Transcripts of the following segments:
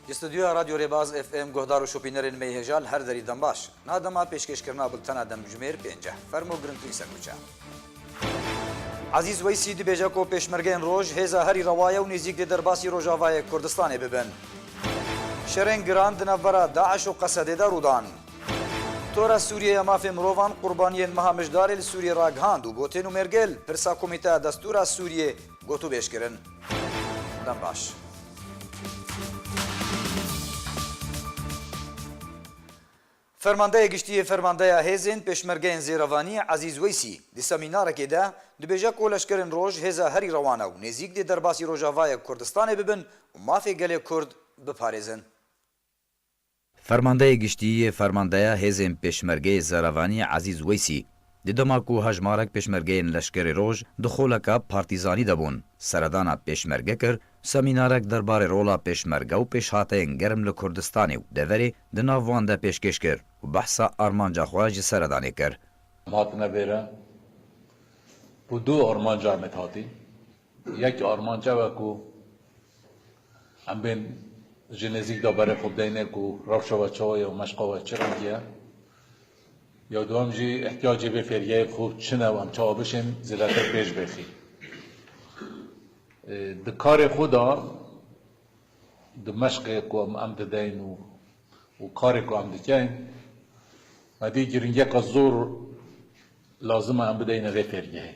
Di studyoya Radyo Rêbaz FM guhdar û şopînerên me hêja li her derî dembaş. Na dema pêşkêşkirina bultena demjimêr pênc e. Fermo girintîn serwîçe. Ezîz Weysî dibêje ku pêşmergeyên roj hêza herî rewa ye û nêzîk dê derbasî rojavayê Kurdistanê bibin. Şerên giran di navbera DAIŞ û Qesedê de rûdan. Tora Sûriyê ya Mafên Mirovan qurbaniyên meha mijdarê li Sûriyê ragihand û got hê nûmergel pirsa Komîteya Destûra Sûriyê gotûbêj kirin. Dem baş. Fermandeyê Giştî yê Fermandeya Hêzên Pêşmergeyên Zêrevanî Ezîz Weysî di semînarekê de dibêje ku leşkerên roj hêza herî rewan e û nêzîk dê derbasî Rojavayê Kurdistanê bibin û mafê gelê Kurd biparêzin. Fermandeyê Giştî yê Fermandeya Hêzên Pêşmergeyê Zerevanî Ezîz Weysî di dema ku hejmarek pêşmergeyên leşkerê roj di xoleka partîzanî de bûn seredana pêşmerge kir Semînarek derbarê rola Pêşmerge û pêşhateyên germ li Kurdistanê û deverê di nav wan de pêşkêş kir û behsa armanca xwe ji seredanê kir. Em hatine vê re ku du armanca em ê dihatîn. Yek armanc ew e ku em bên ji nêzîk de berê xwe bideyne ku rewşa we çawa ye û meşqa we çi rengî ye. Ya dewem jî îhtiyacê vê fêrgehê ku çi ne û em çawa bişên zêdetir pêş bêxî. Di karê xwe de, di meşqê ku em didein û û karê ku em dikein, xwedî girîngiyeka zor lazim e em bideyine vê fêrgehê.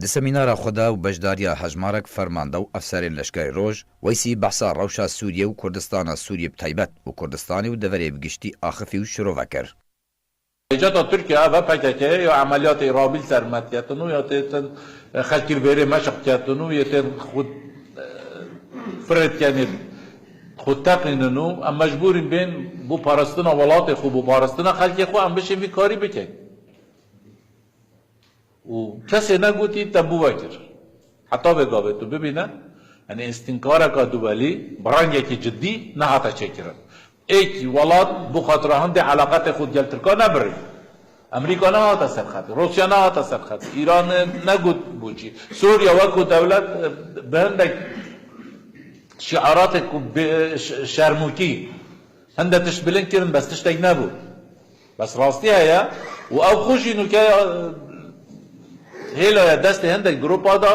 Di semînara xwe de û beşdariya hejmarek fermanda û efserên leşkerê roj, Weysî behsa rewşa Sûriyê û Kurdistana Sûriyê bi taybet û Kurdistanê û deverê bi giştî axifî û şirove kir. Pêşeta Tirkiye ev e pkk ya emeliyatê Îrabil sermed ketin û ya tê tên xelkî li bêrê meşq ketin û yê tên xwe fired kenê xwe teqînin û em mecbûrîn bên bo parestina welatê xwe bo parestina xelkê xwe em biçin vî karî bikin. Û kesê negotî te bi we kir. Heta vê gavê tu bibîne yanî îstînkareke duwelî bi rengekî cidî nehate çêkirin. Êkî welat bo xatira hindê eleqetê xwe gel tirkan nebirî. Emerîka nehate ser xetê, Rûsya nehate ser xetê, Îran negot boçî. Sûrya weko dewlet bi hindek şîaratê ku bê şermûkî hinde tişt bilind kirin bes tiştek nebû. Bes rastî heye û ew xwe jî nûke hêlaye destê hindek giropa da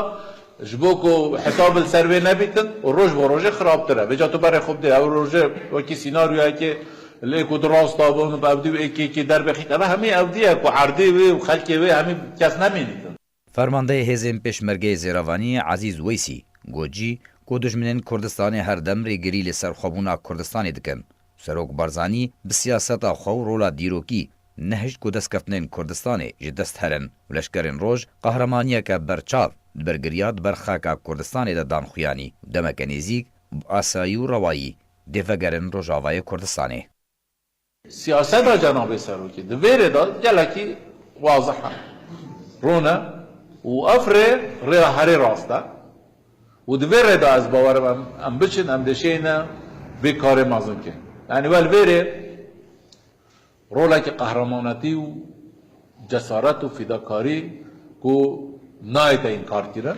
ji bo ku hesab li ser wê nebîtin û roj bo rojê xirabtir e. Vêca tu berê xwe bidê ew rojê wekî sînaryoyekê li êk û du rasta bin û bi evdî û êkî êkî derbixît. Eve hemî evdî ye ku erdê wê û xelkê wê hemî kes nemînîtin. Fermandeyê hêzên Pêşmergeyê Zêravanî Ezîz Weysî got jî ku dijminên Kurdistanê her dem rêgirî li serxwebûna Kurdistanê dikin. Serok Barzanî bi siyaseta xwe û rola dîrokî nehişt ku destkeftnên Kurdistanê ji dest herin û leşkerên roj qahremaniyeke berçav li ber giriya di ber xaka Kurdistanê de dan xuyanî û demeke nêzîk bi asayî û rewayî dê vegerin Rojavayê Kurdistanê. Siyaseta Cenabê Serokê di vê rê de gelekî wazih e, rûn e û ev rê, rêya herê rast e û di vê rê de ez bawer im em em biçin, em dê şêne vê karê mezin bikin. Yanî we li vê rê rolekî qehremanetî û cesaret û fîdakarî ku nayête înkarkirin.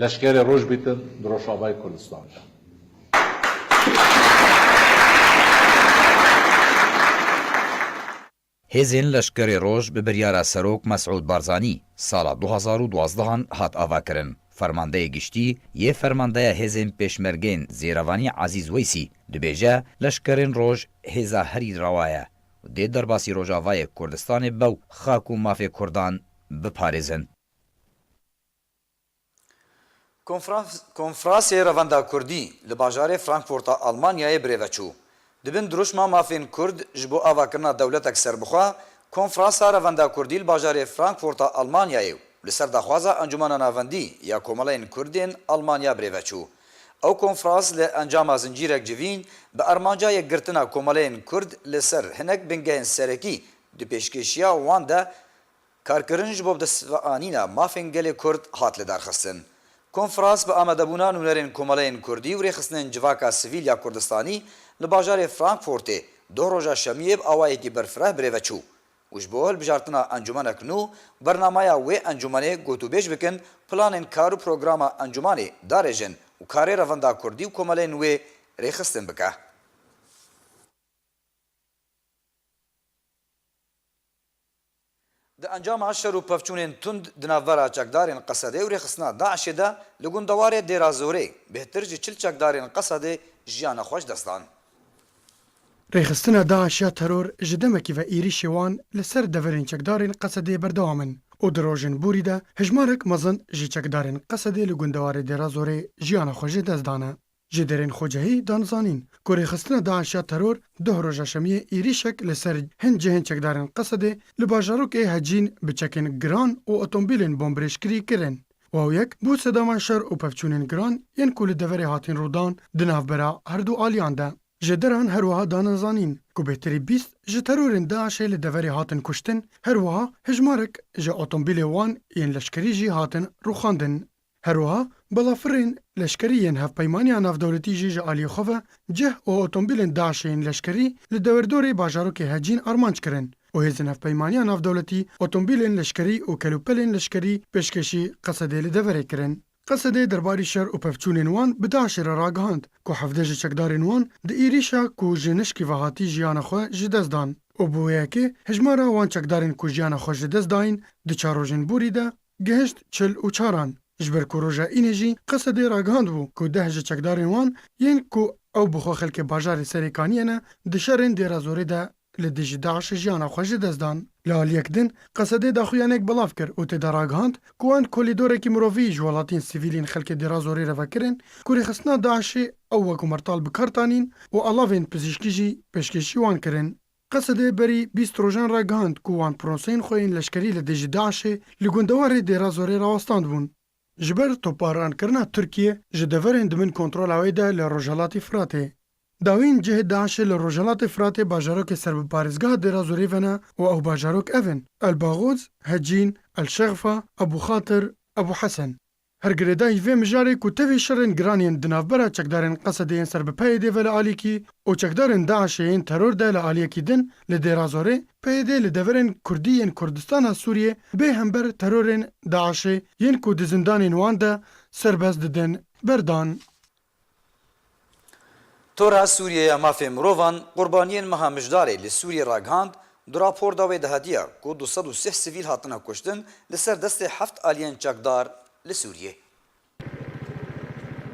Leşkerê roj bîtin bi Rojavayê Kurdistan de. Hêzên Leşkerê Roj bi biryara Serok Mesûd Barzanî sala du hezar û duwazdeh an hat avakirin. Fermandeyê Giştî yê Fermandeya Hêzên Pêşmergeyên Zêrevanî Ezîz Weysî dibêje, Leşkerên Roj hêza herî rewa ye û dê derbasî Rojavayê Kurdistanê be û xak û mafê Kurdan biparêzin. Konfrasê Revanda Kurdî li bajarê Frankfurt a Almanyayê birêve çû. Di bin dirûşma mafên Kurd ji bo avakirina dewletek serbixwe, Konfrasa Revanda Kurdî li bajarê Frankfurt a Almanyayê û li ser daxwaza Encûmena Navendî ya Komeleyên Kurdên Almanya birêve çû. Ew konfras li encama zincîrek civîn bi armanca yekgirtina komeleyên Kurd li ser hinek bingehên serekî di pêşkêşiya wan de Karkirin ji bo bi dest ve anîna mafên gelê Kurd hat lidarxistin. Konferans bi amadebûna nûnerên komeleyên Kurdî û rêxistinên civaka sivîl ya Kurdistanî li bajarê Frankfurtê doh roja şemiyê bi awayekî berfireh bi rê ve çû û ji bo hilbijartina encûmenek nû bernamaya wê encûmenê gotûbêj bikin planên kar û programa encûmanê darêjin û karê revenda Kurdî û komeleyên wê rêxistin bike. Di encama şer û pevçûnên tund di navbera çekdarên Qesedê û rêxistina DAIŞ'ê de li gundewarê Dêrazorê bêhtir ji çil çekdarên Qesedê jiyana xwe ji dest dan. Rêxistina DAIŞ ya teror ji demekî ve êrîşê wan li ser deverên çekdarên Qesedê berdewam in û di rojên borî de hejmarek mezin ji çekdarên Qesedê li gundewarê Dêrazorê jiyana xwe ji dest dane. Ji derên Xocehî dan zanîn ku rêxistina DAIŞ ya teror duh roja şemiyê êrîşek li ser hin cihên çekdarên Qesedê li bajarokê Hecîn bi çekên giran û otombîlên bombirêjkirî kirin. Wawyek bû sedama şer û pevçûnên giran yên ku li deverê hatin rûdan di navbera her du aliyan de. Ji deran her wiha dan zanîn ku bêtirî bîst ji terorên DAIŞê li deverê hatin kuştin, her wiha hejmarek ji otombîlê wan yên leşkerî jî hatin rûxandin. Her wiha balafirên leşkerî yên Hevpeymaniya Navdewletî jî ji aliyê xwe ve cih û otomobîlên DAIŞ'ê yên leşkerî li dewerdorê bajarokê Hecîn armanc kirin û hêzên Hevpeymaniya Navdewletî otomobîlên leşkerî û kelûpelên leşkerî pêşkêşî Qesedê li deverê kirin. Qesedê derbarî şer û pevçûnên wan bi DAIŞ'ê re ragihand ku hevdeh ji çekdarên wan di êrîşa ku ji nişkî ve hatî jiyana xwe ji dest dan û bi wê yekê hejmara wan çekdarên ku jiyana xwe ji dest dayîn di çar rojên borî de Gihişt çil û çar an, ji ber ku roja înê jî Qesedê ragihandibû ku deh ji çekdarên wan yên ku ew bi xwe xelkê bajarê Serê Kaniyê ne, di şerên Dêrazorê de li dijî DAIŞ'ê jiyana xwe ji dest dan. Li aliyek din Qesedê daxuyanek belav kir û tê de ragihand ku wan kolîdorekî mirovî ji welatiyên sivîlîn xelkê Dêrazorê re vekirin ku rêxistina DAIŞ'ê ew wek martal bi kar tanîn û alavên pizîşkî jî pêşkêşî wan kirin. Qesedê berî bîst rojan ragihand ku wan piroseyên xwe yên leşkerî li dijî DAIŞ'ê li gundewarê Dêrazorê rawestandbûn. Ji ber toparanrkirina Tirkiye ji deverên di bin kontrola wê de li Rojhelatî Firatê. Dawîn cihê DAIŞ'ê li Rojhelatê Firatê bajarokê ser bi parêzgeha Dêrazorê ve ne û ew bajarok ev in, El Bagoz, Hecîn, El Şexfa, Ebû Xatir, Ebû Hesen. Her girêdayî vê mijarê ku tevî şerên giran yên di navbera çekdarên Qesedê yên ser bi PYD ve li alîkî û çekdarên DAIŞê yên teror de li aliyekî din li Dêrazorê, PYD li deverên kurdî yên Kurdistana Sûriyê bê hember terorên DAIŞê yên ku di zindanên wan de serbest didin, berdan. Tora Sûriyê ya Mafên Mirovan qurbaniyên meha mijdarê li Sûriyê ragihand, di rapor de wê dihatiya ku du sed û sih sivîl hatine kuştin li ser destê heft aliyên çekdar li Sûriyê.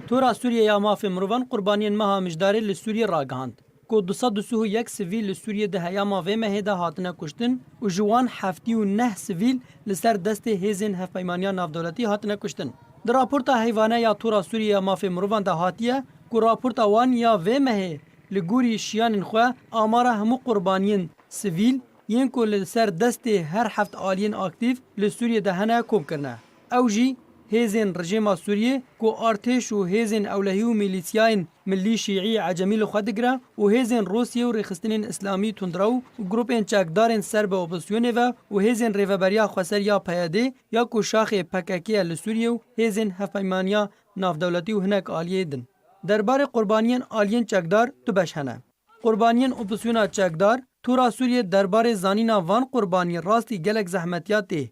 Tora Sûriyê ya Mafên Mirovan qurbaniyên meha mijdarê li Sûriyê ragihand. ku du sed û sih û yek sivîl li Sûriyê di heyama vê mehê de hatine kuştin û ji wan heftî û neh sivîl li ser destê hêzên Hevpeymaniya Navdewletî hatine kuştin. Di raporta heyvane ya Tora Sûriyê ya Mafê Mirovan de hatiye ku raporta wan ya vê mehê li gorî şiyanên xwe amara hemû qurbaniyên sivîl yên ku li ser destê her heft aliyên aktîf li Sûriyê de hene kom kirine. Ew jî hêzên rejêma Sûriyê ku artêş û hêzên ewlehî û mîlîsyayên millî şîî ecemî li xwe digire û hêzên Rûsyê û rêxistinên îslamî tundrew û grûpên çekdarên ser bi opozîsyonê ve û hêzên rêveberiya xweser ya PYD ya ku şaxê pkk ye li Sûriyê û hêzên hevpeymaniya navdewletî û hinek aliyê din. Derbarê qurbaniyên aliyên çekdar du beş hene. Qurbaniyên opozîsyona çekdar, Tura Sûriyê derbarê zanîna van qurbanî rastî gelek zehmetiya tê.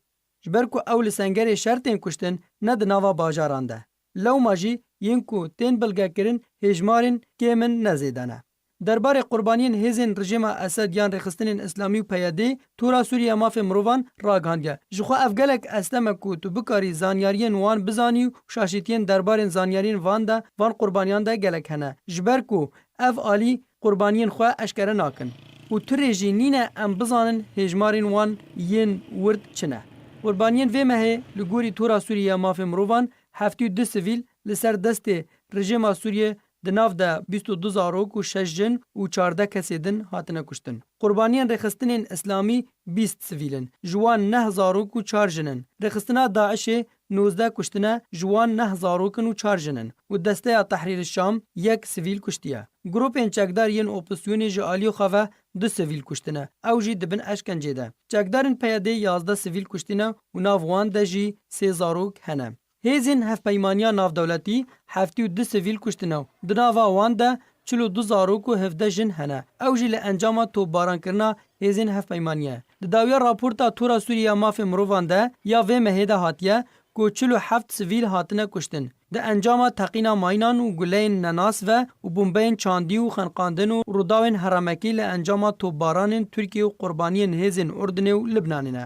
Ji ber ku ew li sengerê şer tên kuştin ne di nava bajaran de. Lewma jî yên ku tên bilgekirin hêjmarên kêm in ne zêde ne. Derbarê qurbaniyên hêzên rijêma Esed yan Rêxistinên Îslamî û PYD'ê, Tora Sûriye Mafên Mirovan ragihandiye, Ji xwe ev gelek estem e ku tu bikarî zanyariyên wan bizanî û şaşîtiyên derbarên zanyariyên van de van qurbaniyan de gelek hene. Ji ber ku Ev alî qurbaniyên xwe eşkere nakin û tu rê jî nîne em bizanin hêjmarên wan yên wird çi ne. Qurbaniyên vê mehê li gorî Tora Sûriyê ya Mafên Mirovan heftî û du sivîl li ser destê rejêma Sûriyê di nav de bîst û du zarok û şeş jin û çardeh kesê din hatine kuştin. Qurbaniyên Rêxistinên Îslamî bîst sivîl in, ji wan neh zarok û çar jin in. Rêxistina DAIŞ'ê Nozdeh kuştine ji wan neh zarok in û çar jin in û Desteya Tehrîr Şam yek sivîl kuştiye. Grûpên çekdar yên opîsyonê ji aliyê xwe ve du sivîl kuştine, ew jî di bin eşkencê de. Çekdarên PYD'ê yazdeh sivîl kuştîne û nav wan de jî sê zarok hene. Hêzên Hevpeymaniya Navdewletî heftî û du sivîl kuştine û di nava wan de çil û du zarok û hevdeh jin hene, ew jî li encama topbarankirina hêzên hevpeymaniyê. Di dawiya raporta Tora Sûriyê ya Mafên Mirovan de ya vê mehê de hatiye ku çil û heft sivîl hatine kuştin di encama teqîna mayînan û guleyên nenas ve û bombeyên çandî û xeniqandin û rûdawên heremekî li encama topbaranên Tirkiyê û qurbaniyên hêzên Urdinê û Libnanê ne.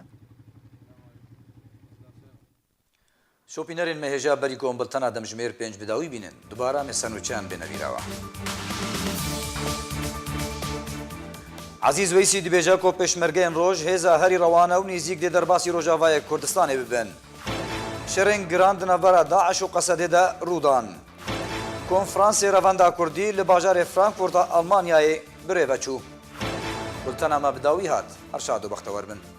Şopînerên me hêja berî ku em bultena demjimêr pênc bi dawî bînin. Dubare em ê ser nûçe em bêne vîra we. Ezîz Weysî dibêje ku pêşmergeyên roj hêza herî rewan e û nêzîk dê derbasî rojavayê Kurdistanê bibin. Şerên giran di navbera DAIŞ û Qesedê de rû dan. Konfransê Revenda Kurdî li bajarê Frankfurt a Elmanyayê bi rê ve çû. Bultena me bi dawî hat. Her şad û bextewer bin.